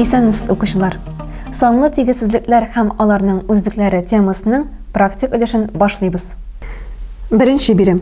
Исәнмесез укучылар. Санлы тигезсезлекләр һәм аларның үзлекләре темасының практик өлешен башлыйбыз. Беренче бирем.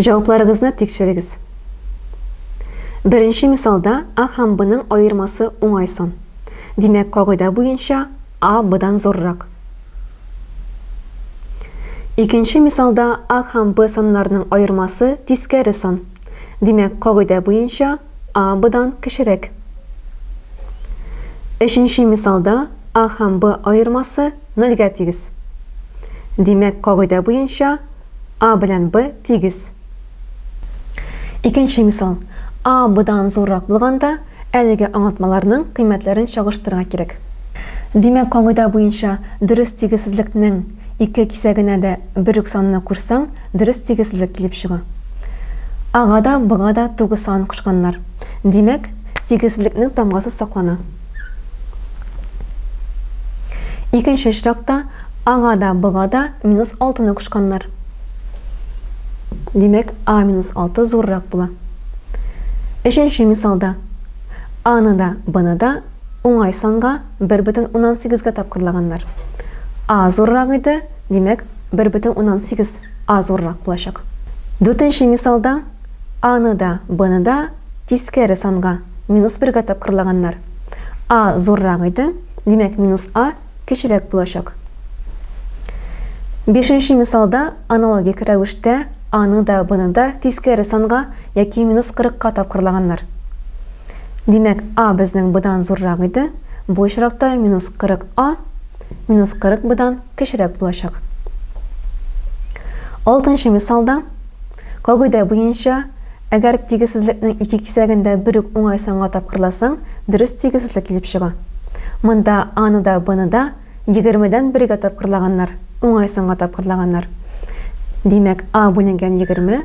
Җавапларыгызны тикшерегез. Беренче мисалда А һәм Бның аермасы уңай сан. Димәк, кагыйдә буенча А Бдан зуррак. Икенче мисалда А һәм Б саннарының аермасы тискәре сан. Димәк, кагыйдә буенча А Бдан кечерәк. Өченче мисалда А һәм Б аермасы Нольгә тигез. Димәк, кагыйдә буенча, А белән Б тигез. Икенче мисал. А Бдан зуррак булганда, әлеге аңлатмаларның кыйммәтләрен чагыштырырга кирәк. Димәк, кагыйдә буенча, дөрес тигезсезлекнең ике кисәгенә дә бер үк санны кушсаң, дөрес тигезсезлек килеп чыга. Ага да, Бга да тугыз санын кушканнар. Димәк, тигезсезлекнең тамгасы саклана. Икенче очракта ага да, быга да минус 6-ны кушканнар. Димәк, а минус 6 зуррак була. Өченче мисалда а-ны да, б-ны да уңай санга 1 бөтен уннан сигезгә тапкырлаганнар. А зуррак иде, димәк, 1 бөтен уннан сигез А зуррак булачак. Дүртенче мисалда А ны да, Б ны да тискәре санга, минус бергә тапкырлаганнар. А зуррак иде, димәк, минус А кечерәк булачак. Бишенче мисалда аналогик рәвештә А ны да, Б ны да тискәре санга яки минус кырыкка тапкырлаганнар. Димәк, А безнең Б дан зуррак иде, бу очракта минус кырык А минус кырык Б дан кечерәк булачак. Алтынчы мисалда, кагыйдә буенча, әгәр тигезсезлекнең ике кисәген дә бер үк уңай санга тапкырласаң, дөрес тигезсезлек килеп чыга. Монда А-ны да Б-ны да егермедән бергә тапкырлаганнар, уңай санга тапкырлаганнар. Димәк, А бүленгән егерме,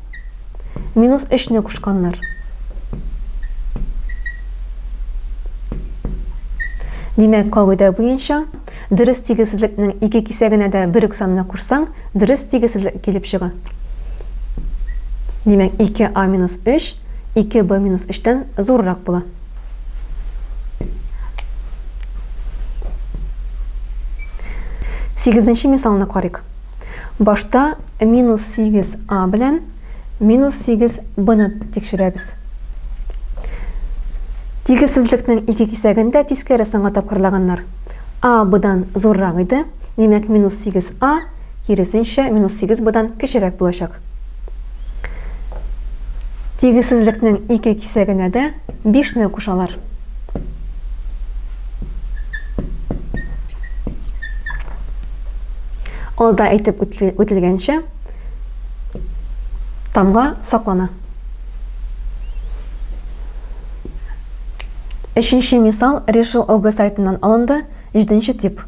Минус өчне кушканнар. Димәк, кагыйдә буенча, дөрес тигезсезлекнең ике кисәгенә дә бер үк санны кушсаң, дөрес тигезсезлек килеп чыга. Димәк, 2а минус 3, 2b минус 3-тән зуррак була. Сигезенче мисалны карыйк. Башта минус 8 а белән минус 8 бны тикшерәбез. Тигезсезлекнең ике кисәген дә тискәре санга тапкырлаганнар. А бдан зуррак иде, димәк минус 8 а, киресенчә, минус 8 бдан кечерәк булачак. Тигезсезлекнең ике кисәгенә дә 5 не кушалар. Алда әйтеп үтелгәнчә тамга саклана. Өченче мисал Решил ОГ сайтыннан алынды, җиденче тип.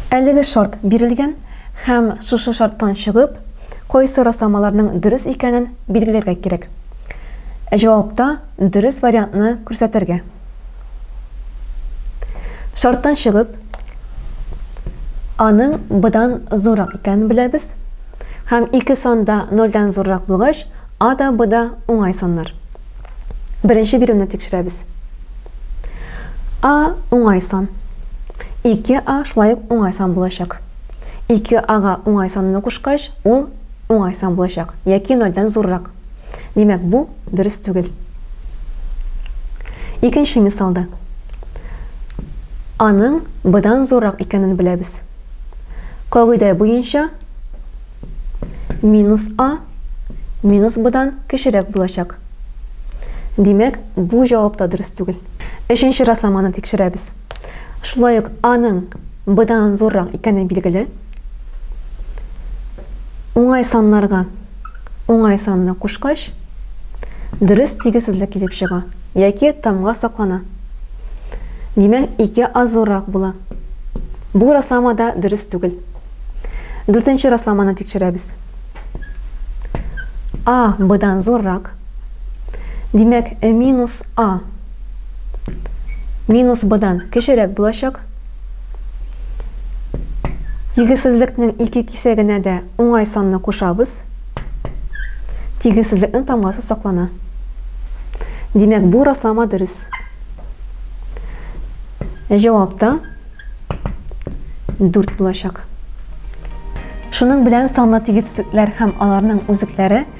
Әлеге шарт бирелгән һәм шушы шарттан чыгып, кайсы расламаларның дөрес икәнен билгеләргә кирәк. Җавапта Дөрес вариантны күрсәтергә. Шарттан чыгып, аның b-дан зуррак икәнен беләбез. Һәм ике сан да нольдән зуррак булгач, a да b да уңай саннар. Беренче биремне тикшерәбез. a уңай сан. 2a шулай ук уңай сан булачак. 2a га уңай санны кушкач, ул уңай сан булачак, яки нольдән зуррак. Димәк, бу дөрес түгел. Икенче мисалда. Аның быдан зуррак икәнен беләбез. Кагыйдә буенча минус А минус быдан кечерәк булачак. Димәк, бу җавап та дөрес түгел. Өченче расламаны тикшерәбез. Шулай ук аның быдан зуррак икәне билгеле. Уңай саннарга Уңай санны кушкач, дөрес тигезсезлек килеп чыга яки тамга саклана. Димәк, 2 а зуррак була. Бу раслама да дөрес түгел. Дүртенче расламаны тикшерәбез. А бдан зуррак. Димәк, минус а минус бдан кечерәк булачак. Тигезсезлекнең ике кисәгенә дә уңай санны кушабыз. Тигезсезлекнең тамгасы саклана. Димәк, бу раслама дөрес. Җавап та 4 булачак. Шуның белән санлы тигезсезлекләр һәм аларның үзекләре